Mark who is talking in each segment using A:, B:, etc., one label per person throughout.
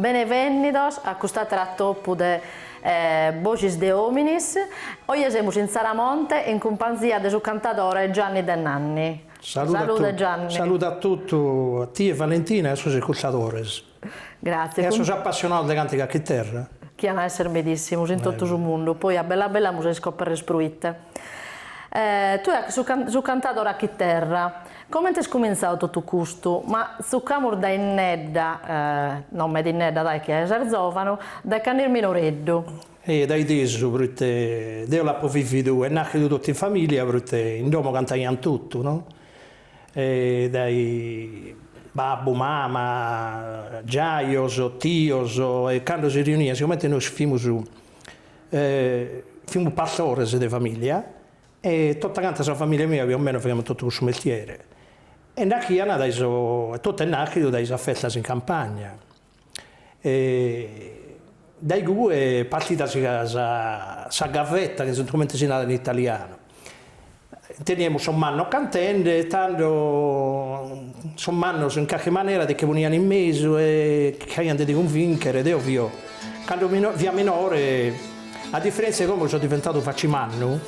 A: Benevennidos a cust'àteru atopu de Boxis de Ominis. Oje semus in Tzaramonte in cumpanzia de su cantadore Gianni De Nanni. Salude Gianni.
B: Salude a totu a tie Valentina e a sos iscurtadores.
A: Grazie. E a
B: sos appassionados de càntiga a chiterra. Chi an a
A: esser medissimus in totu su mundu, poi a bella bella amus a iscoperrer proite. Tue ses cantadore a chiterra, comente est cumintzadu totu custu? Tzucamus dae innedda, no meda innedda ca ses zòvanu, dae cando fis minoreddu. Ehe, dae
B: tesu, proite deo l'apo vividu e nàchidu totu in familia, proite in domo cantaiant totu, no? dae babbu, mama, giajos, tios e cando si riunian sigomente nois fimus fimus pastores de familia e tota canta sa familia mia pius o mancu faghiamus totu cussu mestiere e nachian dae sos e totu est nachidu dae sas festas in campagna. dae igue partit sa gavetta chi est comente si narat in italianu, teniamus sos mannos cantende e tando sos mannos in carchi manera ti nche ponian in mesu e chircaian de ti cunvìnchere, deo fio cando fia minore a diferentzia'e como chi so diventadu facimannu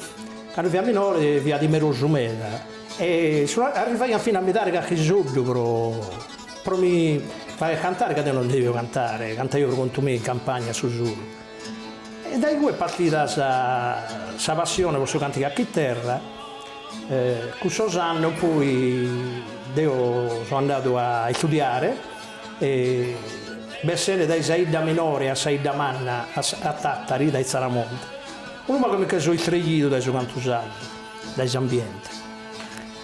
B: cando fia minore fia timerosu meda e arrivaian finas a mi dare carchi soddu pro Pro mi fagher cantare ca deo non devio cantare, cantaio pro contu meu in campagna a su solu. E dae igue est partida sa sa passione pro su càntigu a chiterra, cun sos annos poi deo so andadu a istudiare e bessende dae sa 'idda minore a sa 'idda manna a sa a Tàtari dae Tzaramonte, unu pagu mi che so istreglidu dae su cantu sardu, dae s'ambiente.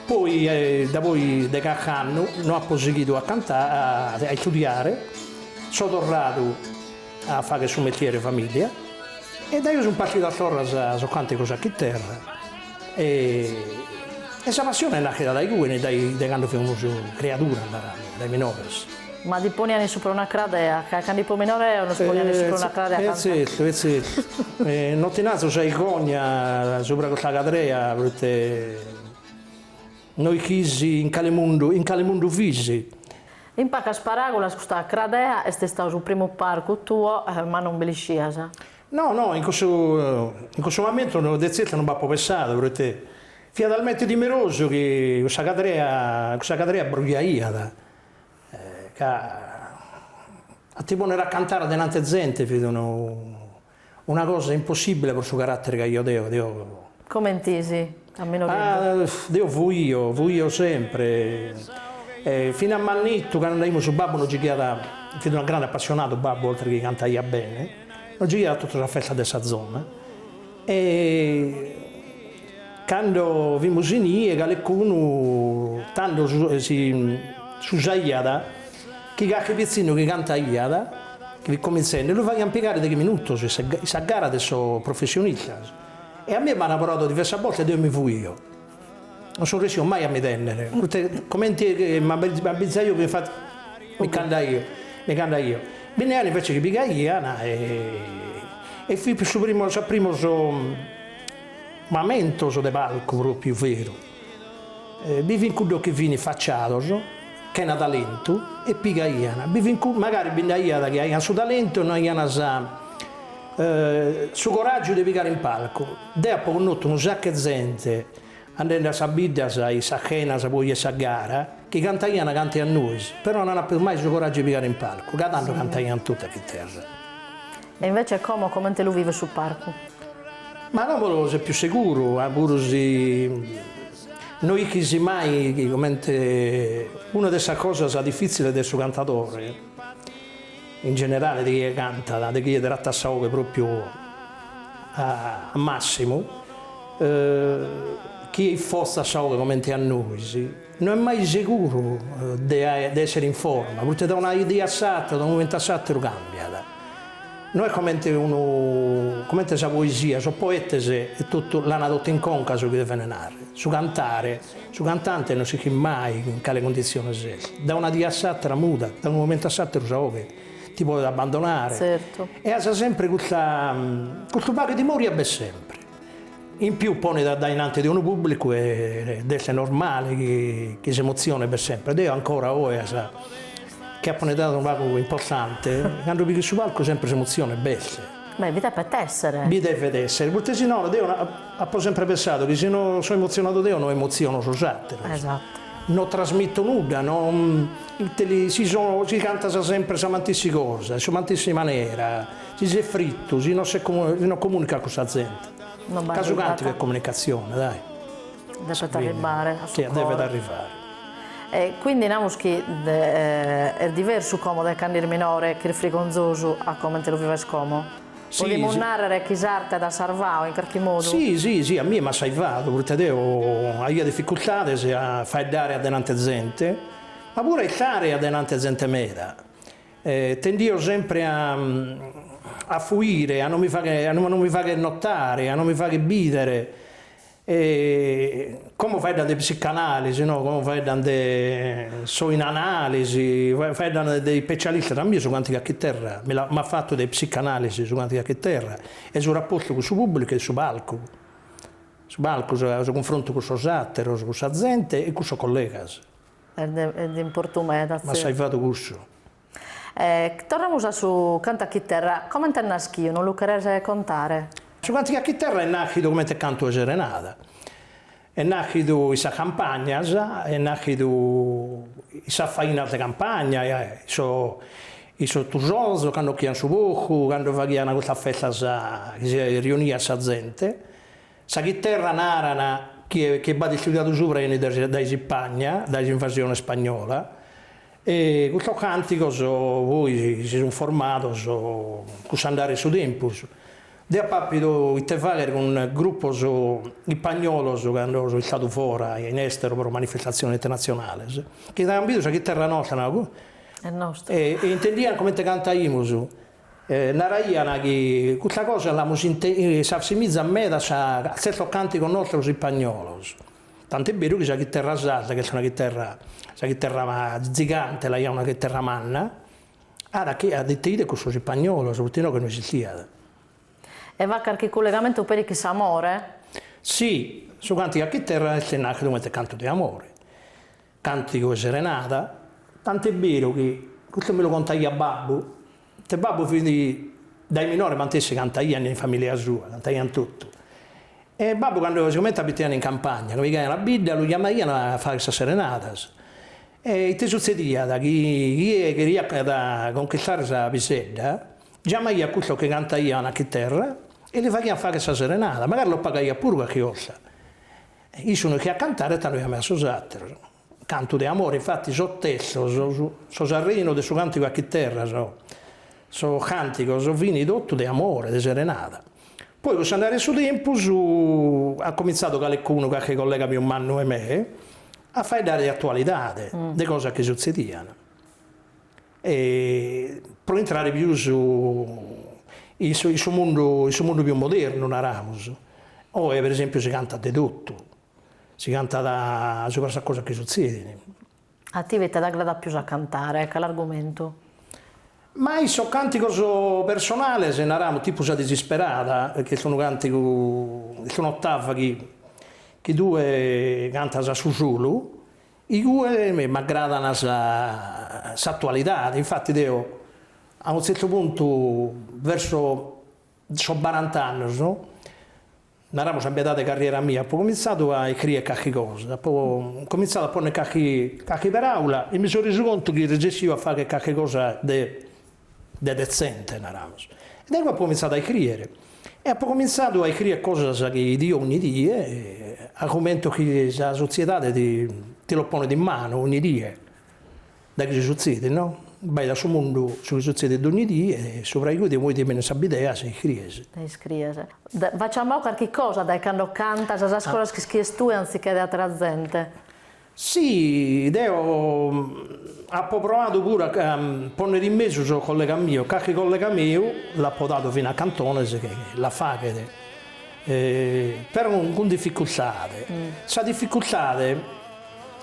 B: Poi da poi de carchi annu no apo sighidu a istudiare, so torradu a fagher su mestiere 'e famiglia e dae igue sunt partidos torra sos càntigos a chiterra e e sa passione naschet dae igue e dae dae cando fimus criaduras, narànno, dae minores. Ma ti
A: poniant in supra una cradea, ca cando fipo minore eo nos poniant in supra una cradea a cantare. E zertu, e zertu.
B: No ti naro sa 'irgonza subra custa cadrea, proite. No ischis in cale mundu, in cale mundu fis? In
A: pacas paragulas custa cradea est istau su primu parcu tuo, ma non bi l'iscias. No, no, in
B: cussu, in cussu mamentu no, de zertu non b'apo pessadu, proite fia talmente timerosu chi cussa cadrea, cussa cadrea brujaiat, ca a ti ponner a cantare denante zente fit unu. Una cosa impossibile pro su carattere ch'aio deo, deo. Comente
A: fis? A meno che.
B: Ah, deo fuio, fuio sempre. E fina a mannittu cando andaimus su babbu nos gighiat, fit una grande appassionadu babbu oltre chi cantaiat bene, nos gighiat a tottu sas festas de sa zona e cando fimus inie caleccunu tando si s'usaiat, Chi carchi pitzinnu chi cantaiat, chi fit comintzende, lu faghiant pigare deghe minutos in sa in sa gara de sos professionistas. E a mie m'ant proadu diversas bortas e deo mi fuio. Non so ressidu mai a mi tènnere, proite comente m'abbizaio chi infati mi ch'andaio, mi ch'andaio. Bi nd'aiat invece chi pigaian e fin sos primos sos primos mamentos de palcu pròpiu veru. Bi fin cuddos chi fin faciados, chena talentu, e pigaian, bi fin cuddos, magari bi nd'aiat chi aian su talentu e no aian sa su coràgiu de pigare in palcu. Deo apo connotu unu sacu 'e zente, andende a sas biddas e a sas chenas poi 'e sa gara, chi cantaian cante a nois, però non apo mai su coràgiu de pigare in palcu, ca tando cantaian totu a chitterra. E
A: invece como, comente lu vives su parcu?
B: Ma como ses pius seguru, puru si no ischis mai comente una de sas cosas difiziles de su cantadore in generale de chie cantat, de chie trattat sa 'oghe propriu a massimu, chie isforzat sa 'oghe comente a nois, No est mai seguru de èssere in forma, proite dae una die a s'àtera, dae unu momentu a s'àteru càmbiat. No est comente unu, comente sa poesia, sos poetes etotu l'ant totu in conca su chi devent narrer, su cantare, su cantante no ischit mai in cale cunditziones est, dae una die a s'àtera mudat, dae unu momentu a s'àteru sa oghe ti podet abbandonare e as
A: sempre custa,
B: custu pagu de timoria b'est sempre. In più ponet addaenanti de unu pùblicu ed est normale chi s'emotzione b'est semper. Deo ancora oe chi apo un'edade unu pagu importante, cando pigo a su palcu semper s'emotzione b'est. Beh, bi depet
A: esser. Bi devet
B: esser, proite si no, deo apo semper pensadu chi si no so emotzionadu deo no emotziono sos àteros. Esatto. No
A: trasmito
B: nudda, no, ite li, si so, si cantas semper sa matessi cosa, in sa matessi manera Si ses frittu, si no no comunicas cun sa zente. Ca su càntigu est comunicatzione, dai.
A: Depet arribbare a su core. Depet arrivare.
B: E quindi
A: namus chi est diversu como de cand'is minore ch'is frigonzosu a comente lu vives como? Podimus
B: nàrrere
A: chi s'arte t'at sarvadu in carchi modu? Si, si, si, a mie
B: m'at saivadu, proite deo aia dificultades a faeddare adenante a zente, ma puru a istare adenante a zente meda. E tendio sempre a a fuire, a no mi faghe a no mi fagher notare, a no mi fagher bìdere, e como faeddan de psicanalisi no, como faeddan de so in analisi, faeddan de ippecialistas, a mie su cantigu a chiterra mi l'at m'at fatu de psicanalisi su cantigu a chiterra e su rapportu cun su pubblicu e su palcu, su palcu, su cunfrontu cun sos àteros, cun sa zente e cun sos collegas. Est
A: de importu meda, tzi. M'assai fatu
B: cussu.
A: E torramus a su cantu a chiterra. Comente est naschiu, no lu cheres contare? Su cantu a chiterra
B: est nàschidu comente cantu 'e serenada. Est nàschidu in sas campagnas, est nàschidu in sas fainas de campagna, in sos tusonzos, cando 'occhian su porcu, cando faghian custas festas chi si riuniat sa zente Sa chiterra naran chi b'at istudiadu subra enit dae s'Ipagna, dae s'invasione spagnola, e custos càntigos poi si sunt formados cun s'andare 'e su tempus. Deo apo àpidu ite fàghere cun grupos ipagnolos cando so istadu fora in èsteru pro manifestatziones internatzionales, chi aian bidu sa chiterra nostra,
A: e intendian comente
B: cantaimus. E naraiana chi custa cosa l'amu sintida s'assimizat meda a tzertos cantigos nostros ispagnolos, tant'est beru chi sa chiterra sarda ch'est una chiterra, sa chiterra zigante l'aiat una chiterra manna, at chi at inteidu a cussos ispagnolos, poite inoghe no esistiat.
A: E b'at carchi cullegamentu peri cun s'amore. Si,
B: su cantigu a chiterra est nàschidu comente cantu de amore. Cantigu 'e serenada. Tant'est beru chi custu mi lu contaiat babbu, poite babbu fit dae minore mantessi cantaiat in familia sua, cantaiant totu. E babbu cando sigomente abitaiat in campagna, cando pigaiat a bidda, lu chiamaiant a fagher sas serenadas. E ite sutzediat, chi chie cheriat conchistare sa pisedda, giamaiat cussos chi cantaiant a chiterra e li faghiant fagher sa serenada, magari los pagaiat puru carchi cosa. Issu no est ischiat cantare e tando chiamaiat sos àteros. Cantu de amore infati sos testos, su terrinu de su càntigu a chiterra, sos càntigos fini totu de amore, de serenada. Poi cun s'andare 'e su tempus at comintzadu calicunu, carchi collega pius mannu 'e me, a faeddare de atualidade, de cosas chi sutzedian. E pro intrare pius in su in su mundu in su mundu pius modernu naramus, oe per esempiu si cantat de totu, si cantat subra sas cosas chi sutzedin. A tie
A: ite t'agradat pius a cantare, cale argumentu?
B: Ma in sos cantigos personales naramus tipu sa disisperada, chi est unu cantigu, est un'ottava chi tue cantas a sa sola Igue mi m'agradat s'atualidade, infati deo a unu tzertu puntu verso sos barant'annos, naramos a meidade de carriera mia, apo comintzadu a iscriere carchi cosa, apo comintzadu a ponnere carchi carchi peraula e mi so resu contu chi resessiu a fagher carchi cosa de de detzente, naramus, e dae apo comintzadu a iscrìere, e apo comintzadu a iscrìere cosas chi bidio ogni die, argumentos chi sa sotziedade ti ti los ponet in manu ogni die, su chi sutzidit no, in su mundu su chi sutzidit dogni die, e subra igue ti benit sa bidea si iscrìes. E iscrìes. Ti das
A: meda carchi cosa dae cando cantas sas cosas chi ischies tue anzichè de àtera zente.
B: Si, deo apo proadu puru a pònnere in mesu sos collegas mios, carchi collega meu l'apo dadu fina cantones chi la faghet, però cun dificultade, sa dificultade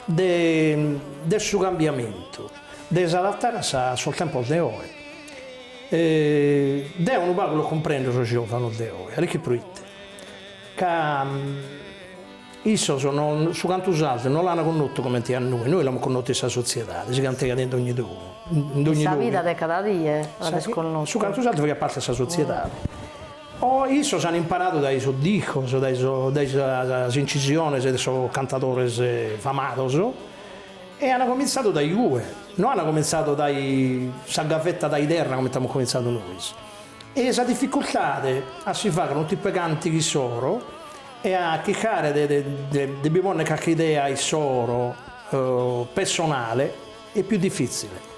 B: de de su cambiamentu, de s'adattare a sa a sos tempos de oe, deo unu pagu los cumprendo sos giovanos de oe, a l'ischis proite ca Issos su cantu sardu no l'an connotu comente a nois, nois l'amus connotu in sa sotziedade, si cantegat in dogni domo, in dogni In sa vida de cada
A: die l'amus connotu. Su cantu sardu faghiat
B: parte de sa sotziedade. Oe issos an imparadu dae sos discos, dae dae sas incisiones de sos cantadores famados e an comintzadu dae igue, no an comintzadu dae sa gavetta dae terra comente amus comintzadu nois. E sa dificultade a si fagher unu tipu 'e cantighi issoro E a chircare de bi ponner carchi idea issoro pessonale est pius difitzile.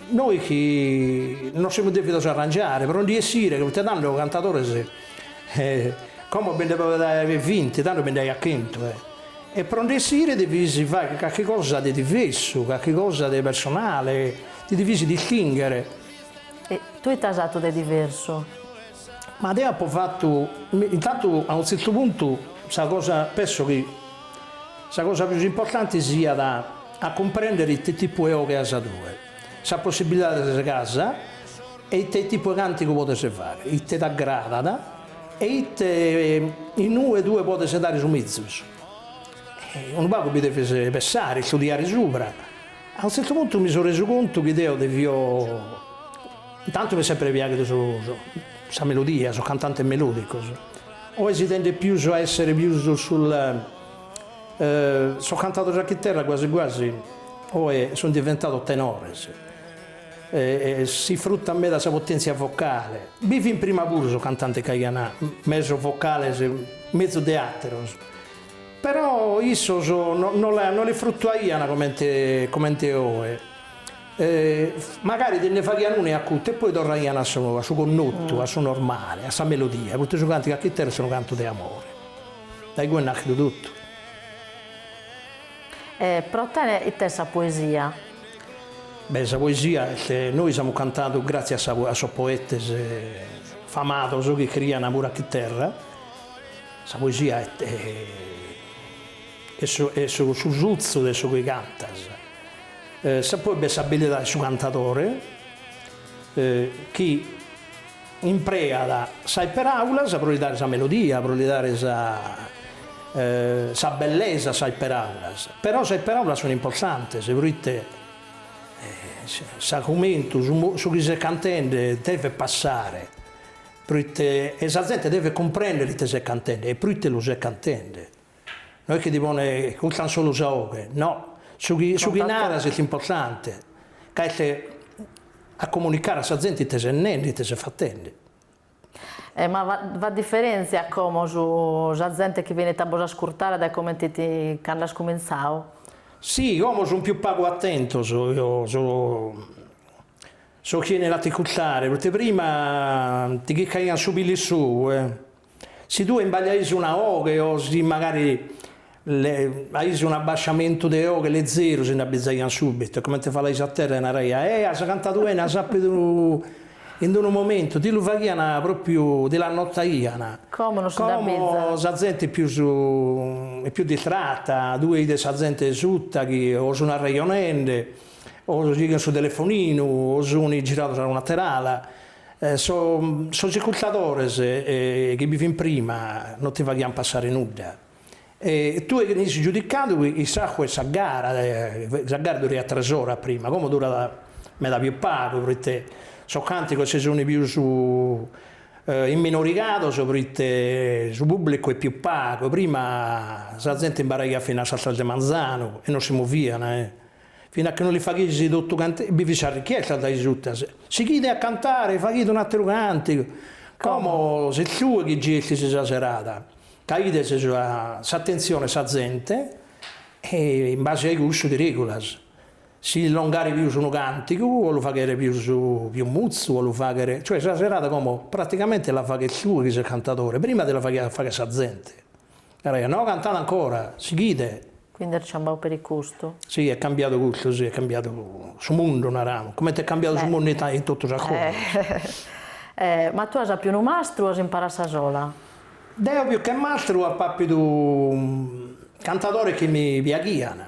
B: Nois chi nos semus devidos arrangiare pro ndi essire, ca tando cantadores como bi nd'est vinti tando bi nd'aiat chentu e pro ndi essire devias fagher carchi cosa de diversu, carchi cosa de personale, ti devias distingher. E
A: tue ite as fatu de diversu? Ma
B: deo apo fatu, intantu a unu tzertu puntu sa cosa, penso chi sa cosa pius importante siat a cumprender ite tipu 'e oghe as tue, sas possibilidades chi as e ite tipu 'e càntigu podes fagher, ite t'agradat e ite in ue tue podes dare su mezus. Unu pagu bi deves pensare, istudiare subra, a unu tzertu puntu mi so resu contu chi deo devio Intantu m'est semper piaghidu su su sa melodia, sos cantantes melodicos. Oe si tendet pius a esser pius sul sos cantadores a chiterra guasi guasi oe sun diventados tenores e si fruttat meda sa potentzia vocale. Bi fin prima puru sos cantantes chi aian mesos vocales mezus de ateros, però issos no no la no la fruttuaian comente comente oe. Magari ti nde faghian una e acuta, e poi torraian a su, a su connotu, a su normale, a sa melodia, proite su cantu a chiterra est unu cantu de amore. Dae igue naschet totu.
A: E pro tene ite est sa poesia?
B: Beh, sa poesia est, nois amus cantadu gratzias a sa, a sos poetes famados chi criaian puru a chiterra, sa poesia est est su suzzu de su chi cantas, Sa poi b'est s'abilidade de su cantadore chi impreat sas peràulas pro li dare sa melodia, pro li dare sa sa bellesa a sas peràulas, però sas peràulas sunt importantes pro ite s'argumentu, su mo su chi ses cantende devet passare, pro ite e sa zente devet cumprender ite ses cantende e pro ite lu ses cantende No est chi ti poden iscustare solu sa 'oghe, no, su chi su chi naras est importante, ca est a comunicare a sa zente ite ses nende, ite ses fatende.
A: E ma b'at diferentzia como su sa zente chi benit a bos ascurtare dae comente cando as cumintzadu? Si,
B: como sun più pagu attentos so sos chi 'enin a t'iscustare, proite prima ti chircaian su pilu in s'ou e. Si tue imbagliaias una oghe o si magari aias un abbasciamentu de oghe lezeru si nd'abbizaiant subitu e comente falaias a terra e naraian Eh as cantadu 'ene, as apidu in d-unu momentu, ti lu faghiant propriu ti l'annotaiant. Como no si
A: nd'abbizat. Como sa
B: zente pius e pius distrata, tue ides sa zente suta chi o sun arrejonende o sun in su telefoninu o sun girados a un'ater'ala. Sos iscurtadores chi bi fin prima no ti faghian passare nudda e tue fis giudicadu a s'acabu 'e sa gara, sa gara duraiat tres oras prima, como durat meda pius pagu pro ite sos cantigos si sun pius imminorigados pro ite su publicu est pius pagu, prima sa zente imbaraiat finas a sas tres de manzanu e no si movian. Fina chi no li faghisi totu cantare bi fit sa richiesta dae is autas, sighide a cantare, faghide un ateru cantigu, como ses tue chi gestis sa serada, ca ides s'atenzione 'e sa zente e in base a cussu ti regulas, si longare pius unu cantigu o lu faghere pius pius mutzu o lu faghere, cioè sa serada como praticamente la faghes tue chi ses cantadore, prima ti la faghiat fagher sa zente. Naraiat, no, cantada ancora, sighide.
A: Quindi est cambiau peri custu. Si, est
B: cambiadu custu, si, est cambiadu su mundu, naramus, comente est cambiadu su mundu in totus is cosas.
A: Ma tue as apiu unu mastru o as imparau a sa sola? Deo pius che
B: mastru ap'apidu cantadores chi mi piaghian,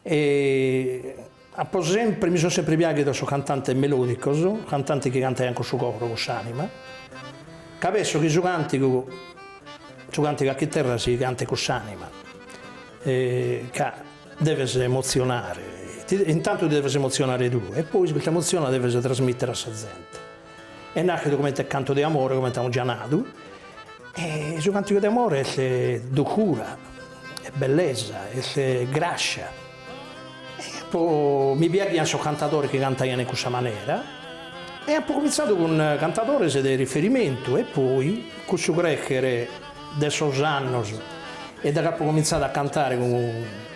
B: E apo sempre, mi sun sempre piaghidos sos cantantes melodicos, cantantes chi cantaian cun su coro, cun s'anima, ca penso chi su cantigu, su cantigu a chiterra si cantet cun s'anima, ca deves emotzionare, intantu ti deves emotzionare tue e poi custa emozione la deves trasmitter a sa zente Est nàschidu comente cantu de amore, comente amus già nadu, e su càntigu de amore est durcura, est bellesa, est gràscia, e apo, mi piaghiant sos cantadores chi cantaiant in cussa manera, e apo comintzadu cun cantadores de riferimentu, e poi cun su crècher de sos annos e daghi apo comintzadu a cantare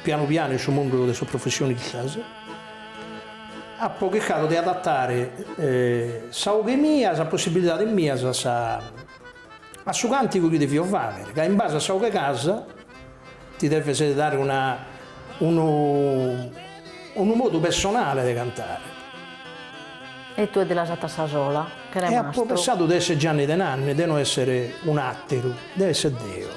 B: pianu pianu in su mundu de sos professionistas, Apo chircadu de adatare sa 'oghe mia a sas possibilidades mias a sa a su càntigu chi devio fàghere, ca in base a sa 'oghe c'as ti deves dare una unu unu modu pessonale de
A: cantare. E tue ti l'as fata a sa sola, chene mastru. E apo pensadu de
B: èssere
A: Gianni
B: Denanni, de no èssere un'àteru, de èssere deo.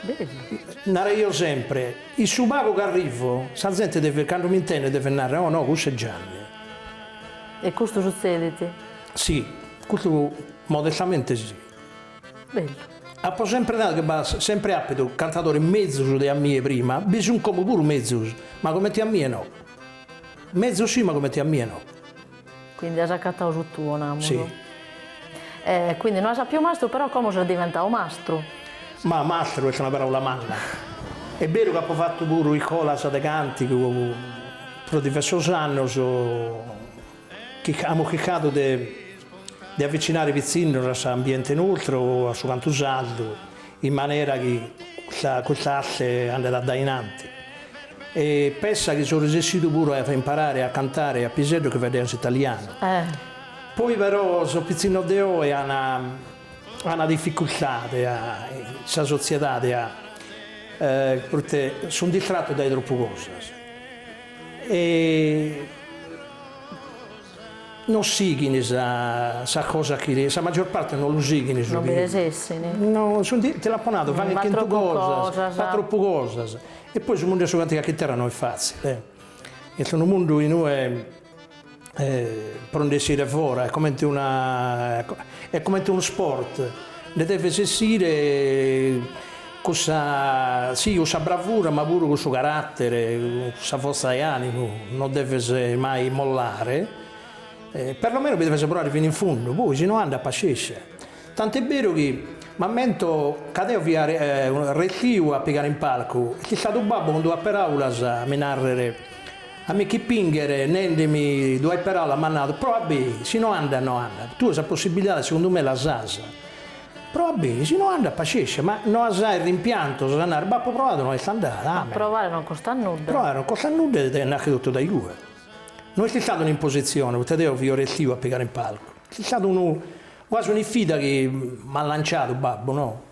B: Bellu. Naraio sempre. In su pagu chi arrivo, sa zente devet, cando mi intendet, devet narrer, Oh no, cussu est Gianni.
A: E custu sutzedit? Si,
B: custu modestamente si. Bellu.
A: Apo sempre
B: nadu chi b'at sempre àpidu cantadores mezus de a mie prima, bi sunt como puru mezus, ma comente a mie no. Mezus si, ma comente a mie no. Quindi
A: as accattau su tuo, namus.
B: Si.
A: E quindi no as apiu mastru però como ses diventau mastru? Ma mastru
B: est una paraula manna. Est beru ca apo fattu puru iscolas de cantigu pro diversos annos chi amus chircadu de de avvicinare pitzinnos a s'ambiente nostru, a su cantu sardu in manera chi custa asse andet a dae in anti, e pensa chi so resessidu puru a imparare a cantare a piseddos chi faeddeant s'italianu. Poi però sos pitzinnos de oe ana dificurtade a sa sotziedade proite sun distratos dae troppu cosas e Non sighin sa cosa chi sa maggior parte non lu sighin su
A: chi non resessin ti
B: l'apo nadu faghet chentu cosas fa troppu cosas e poi su mundu 'e su cantigu a chiterra no est fazzile est unu mundu inue pro ndi essire fora est comente una est comente unu sport nde deves essire Cussa, sì, cussa bravura, ma puru cussu carattere, cussa forza de animu no deves mai mollare, perlomeno bi deves proare fini in fundu, poi si no andat pascescia. Tant'est beru chi m'ammento ca deo fia restiu a pigare in palcu e ch'est istadu babbu cun duas peraulas a mi narrer, a mi ch'ispingher nendemi duas peraulas m'at nadu, proa beni, si no andat no andat, tue sa possibilidade segundu me l'as. Proa beni, si no andat pascescia, ma no as sos rimpiantos a nare, b'apo proadu, no est andada, amen. Provare non costat
A: nudda. Provare non costat nudda
B: ed est naschidu totu dae igue. No est istada un'impositzione, poite deo fio restiu a pigare in palcu. Est istada unu, quasi un'isfida chi m'at lanciadu babbu, no?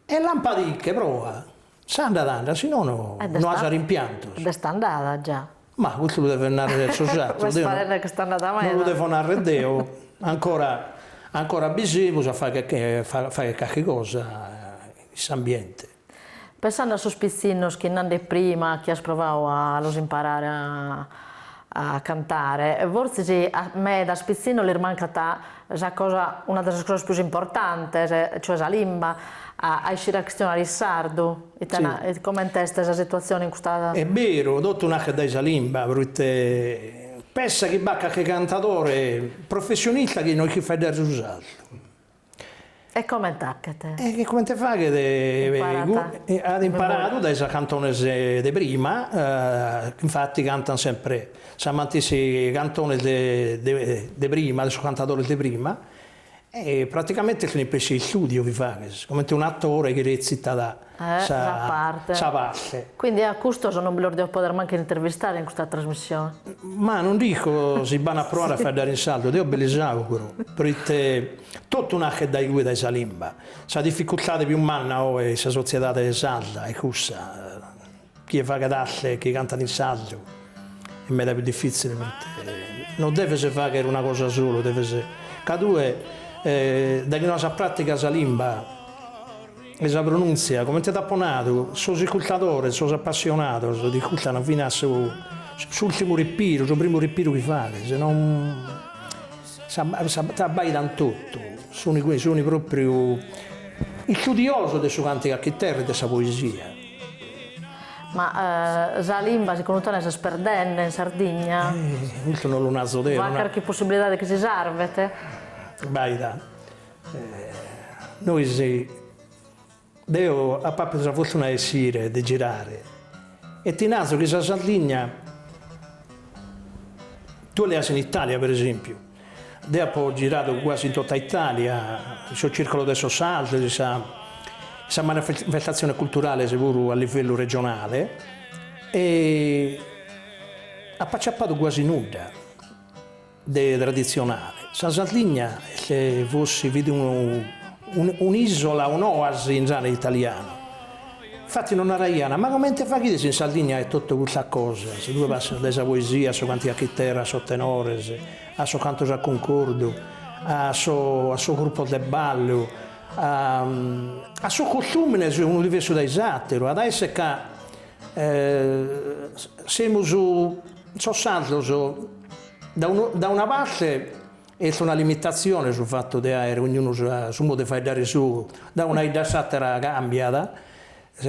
B: E lampa·ti·che proa, si andat andat, si no no as rimpiantos. Ed est
A: andada già. Ma custu lu devet
B: narrer sos atteros, deo
A: non lu devo narrer deo,
B: ancora ancora bi semus a fagher carchi cosa in s'ambiente. Pensande
A: a sos pitzinnos chi nande prima chi as provadu a los imparare a a cantare, fortzis a medas pitzinnos lis mancat sa cosa, una de sas cosas pius importantes, cioè sa limba, a a iscire a chistionare in sardu, ite na, comente est sa situatzione in custa. Est beru,
B: totu naschet dae sa limba, proite pensa chi b'at calchi cantadore professionista chi no est chi faeddet su sardu.
A: E comente faghet? E comente
B: faghet? At imparadu dae sas cantones de prima, infati cantant sempre sas matessi cantones de prima, de sos cantadores de prima, e praticamente est un'ispessie de istudiu chi faghes, comente un'atore chi retzitat sa parte. Sa parte. Quindi a custos non
A: bi los devo poder mancu intervistare in custa trasmissione. Ma non dico
B: si, b'an a proare a faeddare in sardu, deo bi lis auguro, proite totu naschet dae igue, dae sa limba. Sa dificultade pius manna oe in sa sotziedade sarda est cussa. Chie faghet asce e chie cantat in sardu e meda pius difitzile poita non deves fagher una cosa sola deves ca tue daghi no as sa pratica sa limba e sa pronuntzia comente t'apo nadu sos iscurtadores sos appassionados t'iscurtan finu su s'ultimu repiru su primu repiru chi faghes nono t'abbaidan totu sun propriu istudiosos de su cantigu a chiterra e de sa poesia.
A: Ma sa limba segundu tene s'est perdende in Sardigna? Custu non lu
B: naso deo. B'at carchi possibilidade
A: chi
B: si
A: sarvet? Abbaida,
B: nois, deo apo appidu sa fortuna de essire de girare e ti naso chi sa Sardigna, tue leas in Italia per esempiu, Deo apo giradu guasi in tota Itàlia, in sos circolos de sos sardos, in sa in sas manifestatziones culturales puru a livellu regionale e apo acciapadu guasi nudda de traditzionale. Sa Sardigna est forsis fit unu un'ìsola, un'oasi in zona italiana Infati nos naraiana, ma comente faghides in Sardigna àere totu custas cosas, tue passas dae sa poesia a su cantigu a chiterra a sos tenores, a sos cantos a cuncordu, a so a sos grupos de ballu, a a sos costùmines unu diversu dae s'àteru, at a èssere ca semus sos sardos da da una parte Est una limitatzione su fatu de àere ognunu su modu de faeddare sou, da una 'idda a s'àtera càmbiat,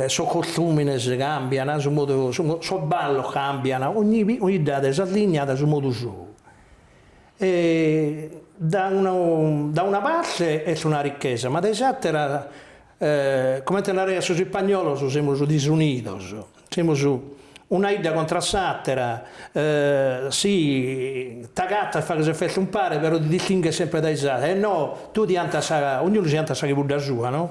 B: sos costùmines càmbian, su modu sos ballos càmbian, ogni 'idda at sa linna a su modu sou. E da una parte est una richesa ma dae s'àtera E comente naraiant sos ispagnolos semus disunidos, semus una 'idda contra s'àtera, si t'agatas faghes festa umpare però ti distinghes semper dae sos àteros, e no, tue ti 'antas, ognunu si 'antat sa chibudda sua no,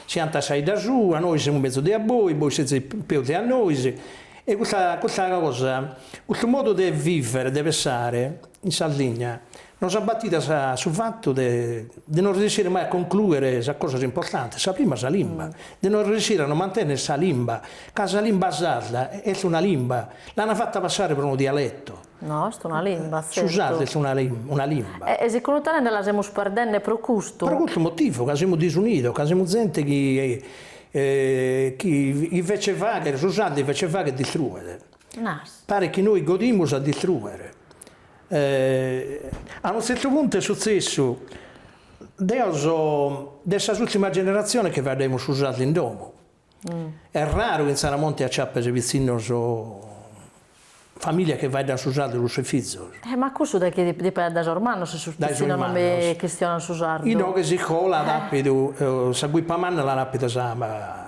B: si 'antat sa 'idda sua, nois semus mezus de a bois, bois sezis peus de a nois, e custa custa cosa, custu modu de vivere, de pensare in Sardigna Nos at batidu a su fatu de de no riessire mai a conclùere sas cosas importantes, sa prima sa limba, de no ressire a nos mantènnere sa limba, ca sa limba sarda est una limba, l'an fata passare pro unu dialetu. No,
A: est
B: una limba, tzertu. Su sardu est una una limba. E segundu tene
A: la semus perdende pro custu. Pro custu motivu,
B: ca semus disunidos, ca semus zente chi chi chi invece 'e fagher su sardu invece 'e fagher distruere. Nas. Paret chi nois godimus a distruere. A unu tzertu puntu est sutzessu, deo so de sas ultimas generatziones chi faeddaimus su sardu in domo, est raru chi in Saramonti acciapes pitzinnos, familias chi faeddan su sardu cun sos fizos. E ma cussu dae
A: chie dipenet, dae sos mannos si sos pitzinnos non bi chistionan su sardu? Inoghe s'iscola at
B: apidu, sa guipa manna l'at apida sa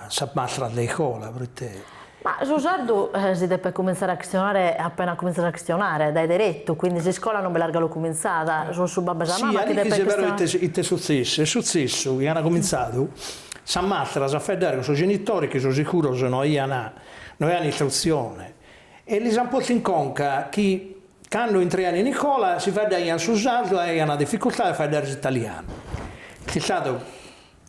B: sa mastras de iscola, proite Ma su
A: sardu si depet cumintzare a chistionare appena cumintzas a chistionare, dae deretu, quindi s'iscola non bi l'as galu cumintzada, sunt su babbu e sa mama chi depent chistionare. Si, Alichi,
B: si però ite sutzessi? Est sutzessu chi ant cumintzadu sas mastras a faeddare cun sos genitores chi so sicuros no aian no aian istrutzione e lis ant postu in conca chi cando intraian in icola si faeddaian su sardu e aian dificultade a faeddare s'italianu. Chi sa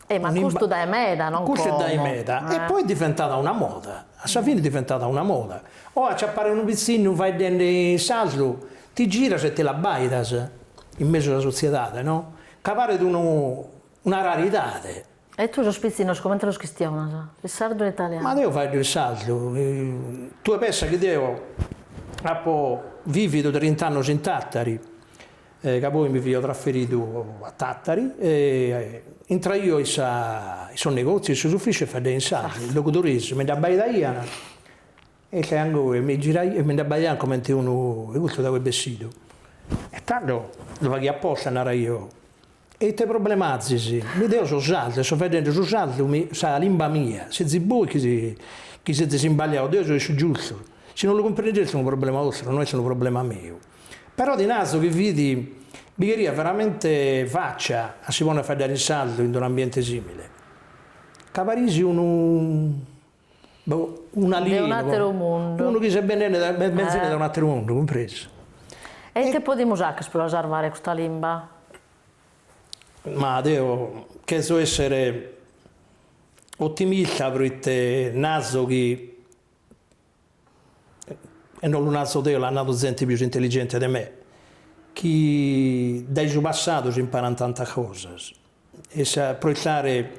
B: E ma
A: custu dae meda, non como. Custu est dae
B: meda. E poi est diventada una moda. A sa fine est diventada una moda. Oe acciappare unu pitzinnu faeddende in sardu ti giras e ti l'abbaidas in mesu 'e sa sotziedade, no? Ca paret unu una raridade. E tue
A: sos pitzinnos comente los chistionas? In sardu o in italianu? Ma deo faeddo in
B: sardu. Tue pensa chi deo apo vividu trint'annos in Tàtari. ca poi mi fio trasferidu a Tàtari e intraio in sa in sos negòtzios, in sos ufìcios e faeddaio in sardu, sos logudoresos mi nd'abbaidaian e ite aian a goi, mi giraio e mi nd'abbaiaian comente unu e custu dae ue ch'est bessidu e tando lu faghio aposta e naraio, e ite problema azis, mi deo so sardu e so faeddende su sardu mi sa limba mia, sezis bois chi si chi sezis imbaliados, deo so in su giustu, si non lu cumprendes est unu problema 'ostru, no est unu problema meu. Però ti narzo chi fit, bi cheriat veramente faccia a si ponnere a faeddare in sardu in un'ambiente simile. Ca pares unu, boh, un'alienu,
A: unu chi s'est bennende dae,
B: b'est benzende dae un'ateru mundu, cumpresu. E
A: ite podimus fàghere pro la sarvare custa
B: limba? Ma deo cherzo essere otimista pro ite naso chi e non lu narzo deo, l'at nadu zente pius intelligente de me, chi dae su passadu si imparan tantas cosas, e pro proiettare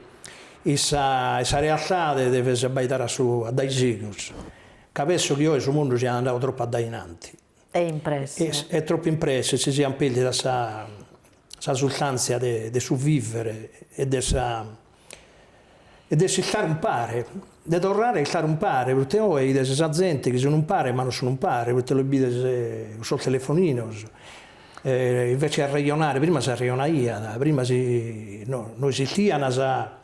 B: in sa in sa realtade deves abbaidare a su a dae sigus, ca penso chi oe su mundu siat andadu tropu a dae innanti. E in
A: presse. E tropu in
B: presse si siant pèrdida sa sa sustàntzia de de su vìvere e de sa e de s'istare umpare, de torrare a istare umpare, proite oe 'ides sa zente chi sun umpare ma non sun umpare, proite los bides cun sos telefoninos, invece 'e arrejonare, prima s'arrejonaiat, prima si no no esistian sa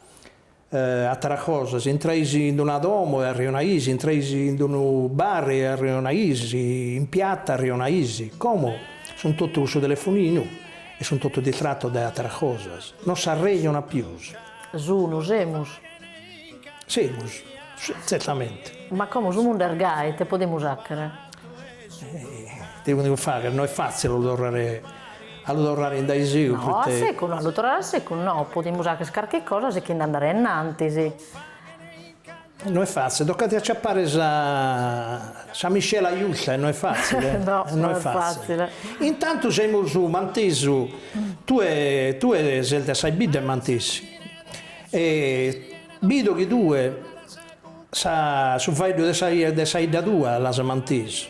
B: Ateras cosas, si intrais in una domo e arrionais, intrais in unu bar e arrionais, in piatta arrionais. Como sun totu cun su telefoninu e sun totu distratos dae ateras cosas, non s'arrejonat pius.
A: Sunu,
B: semus. Semus, tzertamente. Ma como su
A: mundu est gai, ite podemus fàghere?
B: Ite devo fagher, no est fàtzile a lu torrare a lu torrare in dae segus, proite. No, a secus no, a
A: lu torrare a secus no, podimus fagher carchi cosa sichinde a andare innantis.
B: No est fàtzile, tocant a aciapare sa sa miscela justa e no est fàtzile, no, no
A: est fàtzile. Intantu
B: semus mantesu, tue tue ses de sas biddas e mantesu e bido chi tue Su faeddu de sa 'idda tua l'as mantesu.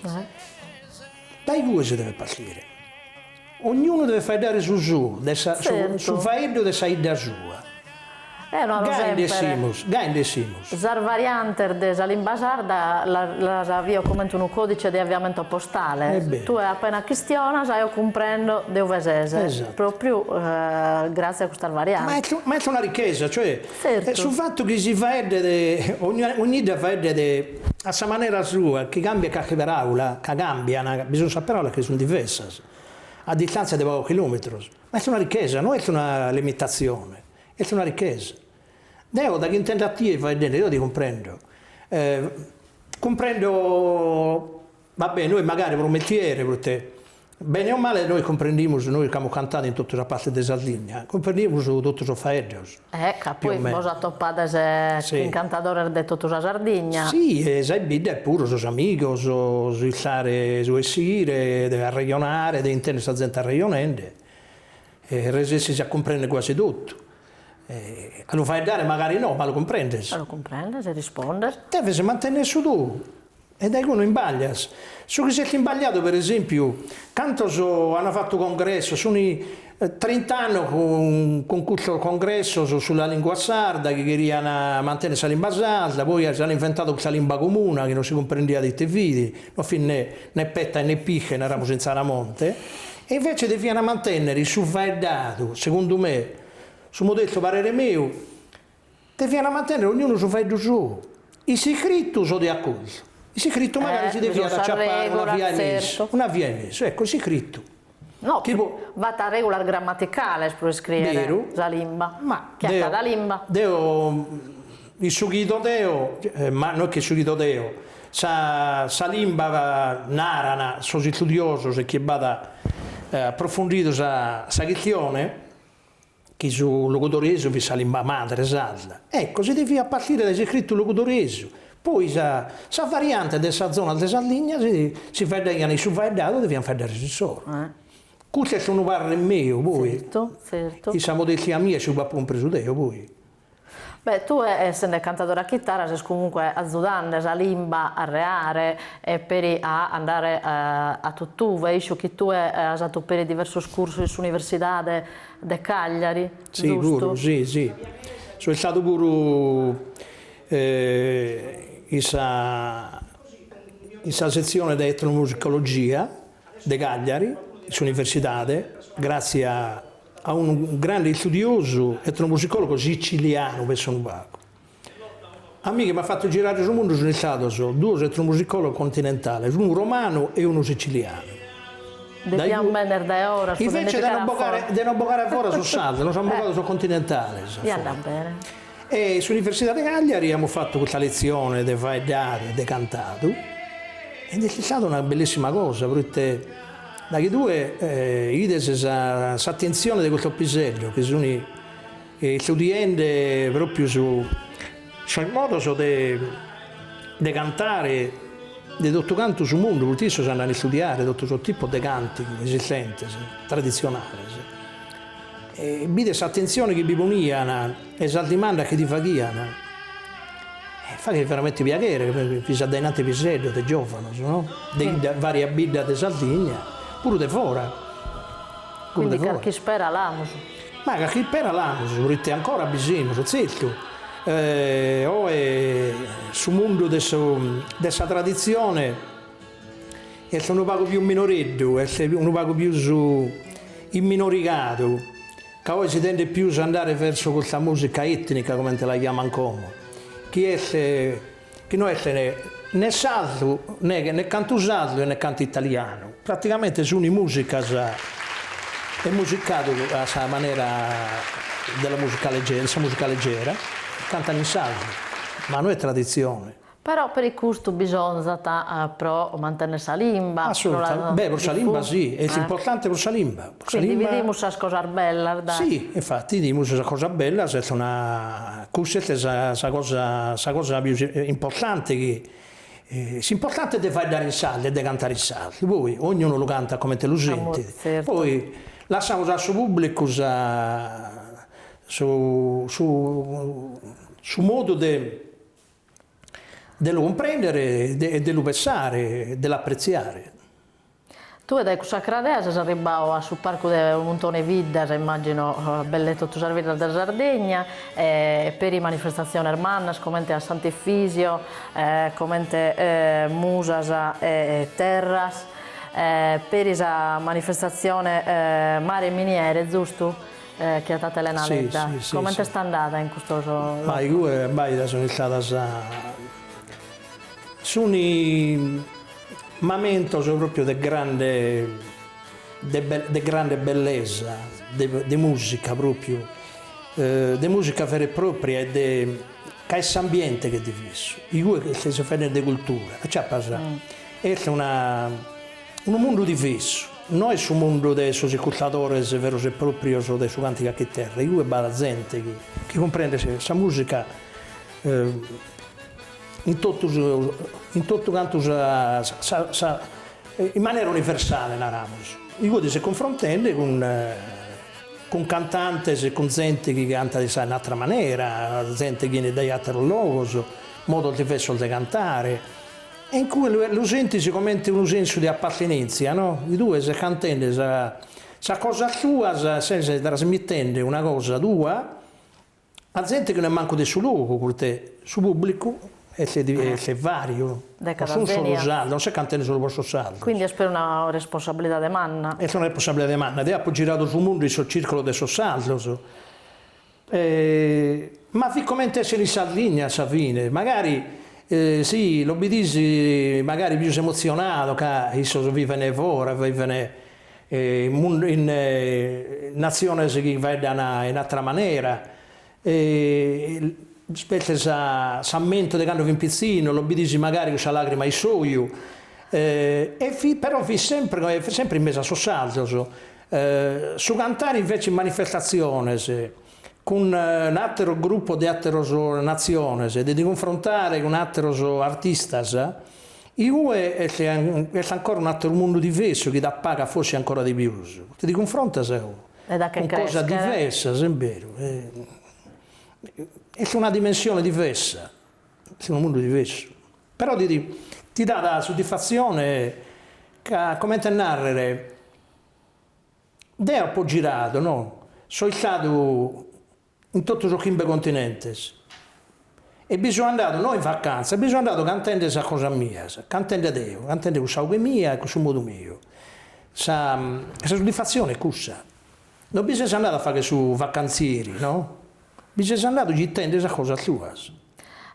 B: Dae igue si devet partire. Ognunu devet faeddare su suu, su faeddu de sa 'idda sua. Gai nd'essimus, gai nd'essimus. Sas
A: variantes de sa limba sarda las bio comente unu codice de aviamento postale. Tue appena chistionas eo cumprendo de ue ses, propriu grazie a custas variantes. Ma est una ricchesa,
B: cioè E su fatu
A: chi
B: si faeddet, ogni 'idda faeddet a sa manera sua, chi cambiat carchi paràula, ca càmbiant, bi sunt sas paràulas chi sunt diversas a distàntzia de pagos chilòmetros, ma est una richesa, no est una limitatzione, est una richesa. Deo daghi intendo a tie faeddende, deo ti cumprendo, cumprendo, Va bene, nois magari pro mestiere, proite bene o male nois cumprendimus, nois ch'amus cantadu in totu sa parte de Sardigna, cumprendimus totu sos faeddos. Eh, ca poi bos
A: atopades chin cantadores de totu sa Sardigna. Si, e sas biddas
B: puru sos amigos, su istare, su 'essire, de arrejonare, de intender sa zente arrejonende, e resessis a cumprender guasi totu. A lu faeddare magari no, ma lu cumprendes. Lu cumprendes e
A: rispondes. Deves mantenner su
B: tou. E dae cue no imbaglias. Su chi s'est imbagliadu, per esempiu, cantos ant fatu congressos, sun trint'annos cun custos congressos sulla lingua sarda, chi cheriant mantenner sa limba sarda, poi s'ant inventadu custa limba comuna chi non si cumprendiat ite fit, non fit ne ne petta e ne pische, naramus in Tzaramonte, e invece deviant mantennere su faeddadu, segundu me, su modestu parere meu, Devian mantennere ognunu su faeddu suu, in s'iscritu so de accordu, in s'iscritu magari si deviat aciappare una via 'e mesu, una via 'e mesu, ecco in s'iscritu. No,
A: b'at regulas grammaticales pro iscriere sa limba, chi at
B: cada
A: limba.
B: Deo, in su chi ido deo, ma no est chi in su chi ido deo, sa sa limba naran sos istudiosos e chie b'at approfundidu sa sa chistione, chi su logudoresu fit sa limba madre sarda, ecco, si deviat a partire dae s'iscritu logudoresu, poi sa sas variantes de sas zonas de Sardigna si si faeddaian in su faeddadu, deviant faeddare s'issoro. Custu est unu parrer meu, poi, in sa
A: modestia
B: mia e su chi apo cumpresu deo, poi,
A: Beh, tue essende cantadore a chitara ses comunque azudande sa limba a reare e peri a andare a tutt'uve, isco chi tue as fatu peri diversos cursos in s'Universidade de Cagliari, giustu? Si,
B: puru, si, si. So istadu puru in sa in sa setzione de etnomusicologia de Cagliari, in s'Universidade, gratzias a unu grande istudiosu etnomusicòlogu sicilianu, pensa unu pagu. A mie chi m'at fatu girare su mundu sunt istados duos etnomusicòlogos continentales, unu romanu e unu sicilianu.
A: Depian benner dae fora. Invece
B: de nos bogare a fora sos sardos, nos an bogadu sos continentales a fora.
A: E in
B: s'Universidade de Cagliari amus fatu custa letzione de faeddadu e de cantadu, e nd'est istada una bellissima cosa, proite daghi tue ides s'atentzione de custos piseddos chi sunt istudiende pròpiu sos modos de de cantare de totu cantu su mundu, proite issos andant a istudiare totu sos tipos de càntigu esistentes, traditzionales Bides s'atentzione chi bi ponian e sas dimandas chi ti faghian, faghet veramente piaghere, bi fin dainanti piseddos e giovanos no, de 'idda varias biddas de Sardigna, puru de fora.
A: Quindi carchi ispera l'amus. Ma
B: carchi ispera l'amus, proite ancora bi semus, zertu, oe su mundu de su de sa traditzione Est unu pagu pius minoreddu, est unu pagu pius imminorigadu, ca oi si tendet pius a andare verso custa musica etnica, comente la chiaman como, chi est chi no est ne sardu, ne ne cantu sardu e ne cantu italianu, praticamente sun musicas e musicadu a sa manera de la musica leggera, de sa musica leggera, cantan in sardu, ma no est traditzione. Però peri
A: custu bisonzat pro mantenner sa limba. Assolutamente, beh pro
B: sa limba si, est importante pro sa limba, pro sa limba. Quindi bidimus sas
A: cosas bellas, dai. Si, infatti bidimus
B: sas cosas bellas, est una, cussa est sa sa cosa sa cosa pius importante chi, s'importante est de faeddare in sardu e de cantare in sardu, poi ognunu lu cantat comente lu sentit,
A: poi lassamus
B: a su pubblicu sa su su su modu de De lu cumprendere e de lu pessare, de
A: l'apretziare. Tue dae cussa cradea ses arribbadu a su parcu de unu muntone 'e 'iddas, immàgino belle totu sas biddas de sa Sardigna, peri manifestatziones mannas comente a Sant'Efisio, comente Musas e Terras, peri sa manifestatzione Mare e Miniere, zustu? Chi est de Elena Ledda. Comente est
B: andada
A: in custos logos? Ma igue abbaida
B: sunt istados, sunt momentos propriu de grande de grande bellesa, de musica propriu, de musica vera e propria e de ca est s'ambiente chi est divessu, igue ses faeddende de cultura, aciapas, est una Unu mundu divessu, no est su mundu de sos iscurtadores veros e pròprios de su càntigu a chiterra, igue b'at zente chi chi cumprendet sa mùsica in totu in totu cantu sa sa in manera universale naramos, igue ti ses cunfrontende cun cun cantantes e cun zente chi cantat in sa in atra manera, zente chi 'enit dae àteros logos, modos diversos de cantare, E in cue lu sentis comente unu sensu de appartenèntzia, no? Igue ses cantende sas cosas tuas, ses trasmitende una cosa tua a zente chi no est mancu de su logu, poita su pùblicu est vàriu, non sun solu sardos, non ses cantende solu pro sos sardos. Quindi est
A: una responsabilidade manna. Est una responsabilidade
B: manna. Deo apo giradu su mundu in sos circulos de sos sardos. Ma fit comente essere in Sardigna a sa fine, magari, si, los bidis magari pius emotzionados ca issos vivent foras, vivent in natziones chi faeddan in atra manera, spetzie s'ammentu de cando fin pitzinnos, los bidis magari cussa lagrima in s'oju, e fit, però fit sempre, sempre in mesu a sos sardos Su cantare invece in manifestatziones cun àteros grupos de àteros natziones, de ti cunfrontare cun àteros artistas, iue est est ancora un'àteru mundu diversu chi t'apagat forsis ancora de pius, poita ti cunfrontas cun cosas diversas, est beru, est una dimensione diversa, est unu mundu diversu, però ti ti dat suddisfatzione ca comente a nàrrere Deo apo giradu, no, so istadu in totu sos chimbe continentes e bi so andadu no in vacantzia, bi so andadu cantende sas cosas mias, cantende deo, cantende cun sa 'oghe mia e cun su modu meu, sa sa suddisfatzione est cussa, non bi ses andadu a fagher su vacantzieri, no, bi ses andadu gittende sas cosas tuas.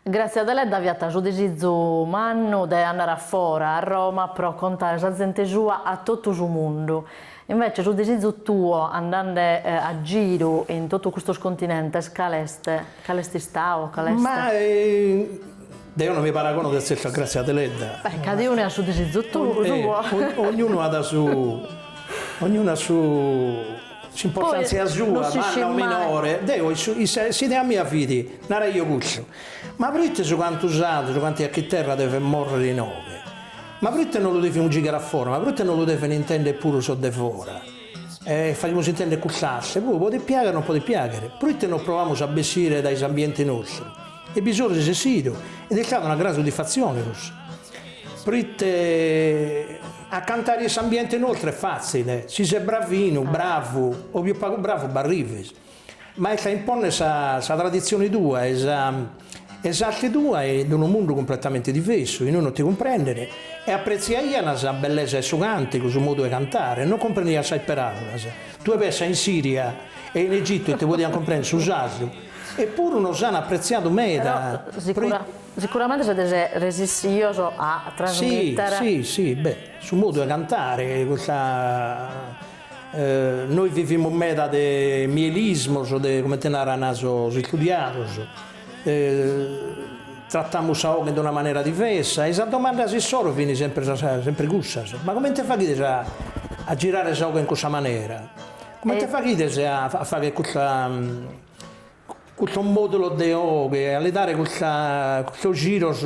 A: Gràtzia Deledda fiat su disizu mannu de andare a fora, a Roma, pro contare sa zente sua a totu su mundu. Invece su disizu tou, andende a giru in totu custos continentes, cale est? Cale est istadu? Cale est?
B: Ma deo no mi paragono de tzertu a Gràtzia Deledda. Beh, cadaunu at su
A: disizu sou. Ognunu
B: at su, ognunu at su S'importàntzia sua, manna o minore, deo, s'idea mia fit, naraio custu, ma proite su cantu sardu, su cantu a chiterra devet morrere inoghe? Ma proite non lu devimus gighere a fora? Ma proite non lu devent intender puru sos de fora? E faghimus intender cust'arte, puru podet piagher o non podet piagher, proite non provamus a bessire dae s'ambiente nostru? E bi so resessidu ed est istada una gran suddifatzione cussa, proite a cantare a s'ambiente nostru est fatzile, si ses bravinu, bravu, o pius pagu bravu b'arrives, ma est a imponner sa sa traditzione tua e sa e s'arte tua in unu mundu cumpletamente diversu, inue non ti cumprenden, e apretziaian sa bellesa 'e su càntigu, su modu 'e cantare, non cumprendian sas peràulas, tue pessa in Siria e in Egitu si ti podian cumprender su sardu, E puru nos an apretziadu meda pro.
A: Sicuramente sezis resessidos a trasmitter. Si, si, si, beh,
B: su modu 'e cantare, custa, nois vivimus meda de melismos, de comente naran sos istudiados, trattamus sa 'oghe in una manera diversa e sas domandas issoro fin sempre sas sempre cussas, ma comente faghides a a girare sa 'oghe in cussa manera Comente faghides a a fagher custa custos modulos de oghe a li dare custa custos giros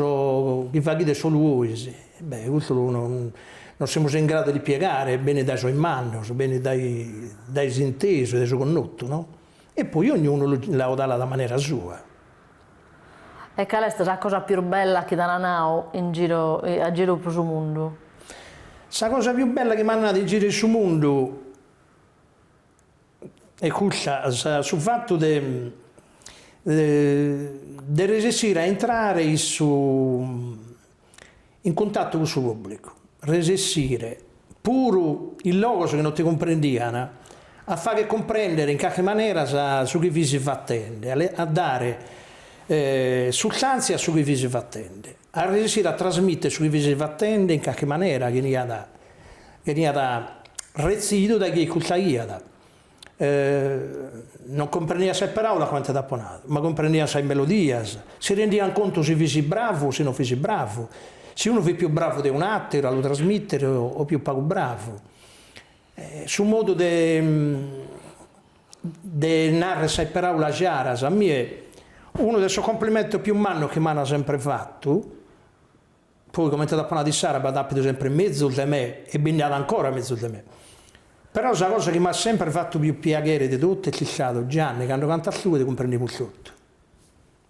B: chi faghides solu 'ois, beh custu no no non semus in gradu de l'ispiegare, benit dae sos mannos, benit dae dae s'intesu e dae su connotu no, e poi ognunu lu l'adatat a manera
A: sua. E cale est sa cosa pius bella chi t'an nadu in giru a giru pro su mundu? Sa
B: cosa pius bella chi m'an nadu in giru in su mundu Est custa, su fatu de de resessire a intrare in su in cuntatu cun su pubblicu, resessire puru in logos chi non ti cumprendian a fagher cumprender in carchi manera sa su chi fis fatende, a dare sustantzia a su chi fis fatende a resessire a trasmìtere su chi fis fatende in carchi manera chi 'eniat chi 'eniat retzidu dae chie iscurtaiat. Non cumprendìan sas paràulas comente t'apo nadu, ma cumprendìan sas melodias, si rendìan contu si fis bravu o si non fis bravu, si unu fit pius bravu de un'àteru a lu trasmìtere o pius pagu bravu. Su modu de de narrer sas paraulas jaras a mie unu de sos complimentos pius mannos chi m'ana sempre fattu, poi comente t'apo nadu issara b'at apidu sempre mezus de me e bi nd'at ancora mezus de me, però sa cosa chi m'at sempre fattu pius piaghere de totu est istada Gianni cando cantas tue ti cumprendimus totu.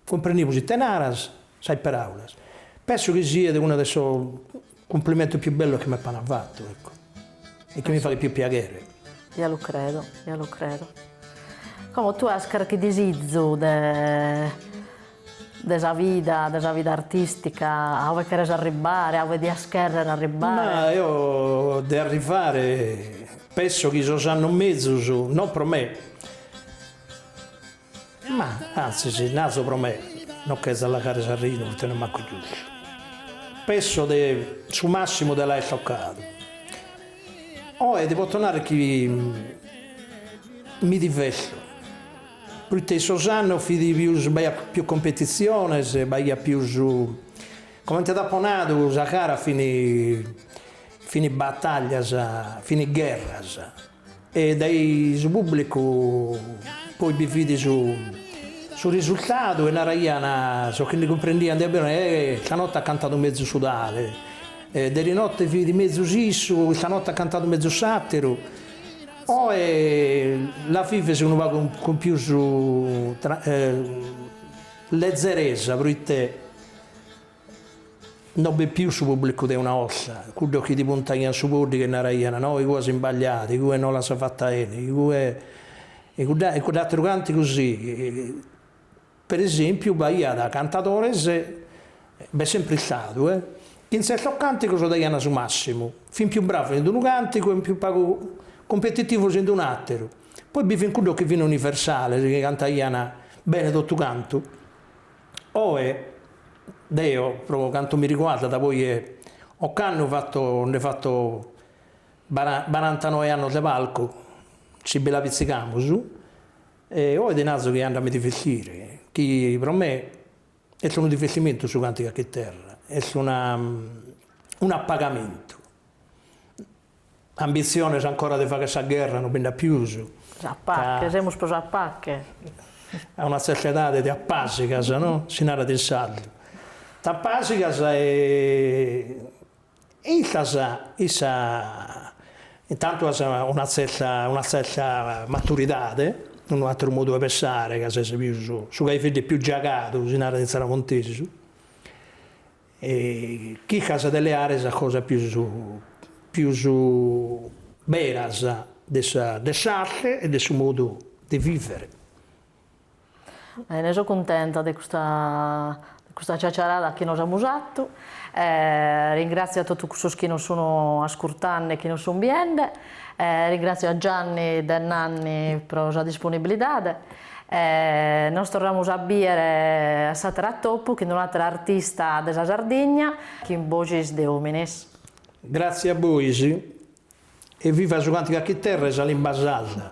B: Cumprendimus ite naras, sas peraulas. Penso chi siet una de sos cumplimentos pius bellos chi m'apana fatu, ecco, e chi mi faghet pius piaghere. Ja lu credo,
A: ja lu credo. Como tue as carchi disizu de de sa vida, de sa vida artistica, a ue cheres arribbare, a ue dias cherrer arribbare? Ma eo
B: de arrivare penso chi sos annos mezus, non pro me, Ma, antzis, naso pro me, no ch'est a lagare s'arrinu proite no est mancu giustu. Penso de su massimu de l'aer tocadu. Oe ti poto narrer chi mi diverto, proite in sos annos fit pius b'aiat pius competitziones, b'aiat pius, comente t'apo nadu sas garas fin fin battaglias, fin gherras E dae su pùblicu poi bi fit su su risurtadu e naraian sos chi ndi cumprendian de pius, eh, istanotte at cantadu mezus su tale, eh, derinotte fit mezus issu, istanotte at cantadu mezus s'àteru. Oe la vives unu pagu cun pius lezzeresa proite No b'est pius su pubblicu de una 'olta, cuddos chi ti puntaian su poddighe e naraian, no, igue as imbagliadu, igue no l'as fatta 'ene, igue. E cudda, e cudd'atteru cantigu si. Per esempiu b'aiat cantadores, b'est sempre istadu, chi in zertos cantigos daian su massimu, fin pius bravos in d'unu cantigu e pius pagu cumpetitivos in d'un'atteru, poi bi fin cuddos chi fin universales, chi cantaian bene totu cantu. Oe deo pro cantu mi riguardat poi 'e ocannu fatto nde fatto bara barantanoe annos de palcu, si bi la pizzigamus, e oe ti nazo chi andu a mi divertire, chi pro me est unu divertimentu su cantigu a chiterra, est una un'appagamentu Ambitziones ancora de fagher sa gherra no bi nd'at pius. A paghe,
A: semus pius a paghe. A
B: una tzerta edade ti apasigas, no? Si narat in sardu. T'apasigas e e istas issa, intantu as una tzerta una tzerta maturidade, unu ateru modu 'e pensare ca ses pius su cherveddu pius giagadu, si narat in tzaramontesu. E chircas de leare sas cosas pius pius beras de sa de s'arte e de su modu de vivere.
A: Bene, so cuntenta de custa de custa ciaciarada chi nos amus fatu e ringratzio a totu cussos chi nos sun ascurtende e chi nos sun biende e ringratzio a Gianni de Nanni pro sa disponibilidade. E nos torramus a bìere a s'àteru atopu chin un'àtera artista de sa Sardigna chin boxis de òmines. Gratzie
B: a bois e viva su cantigu a chiterra e sa limba sarda.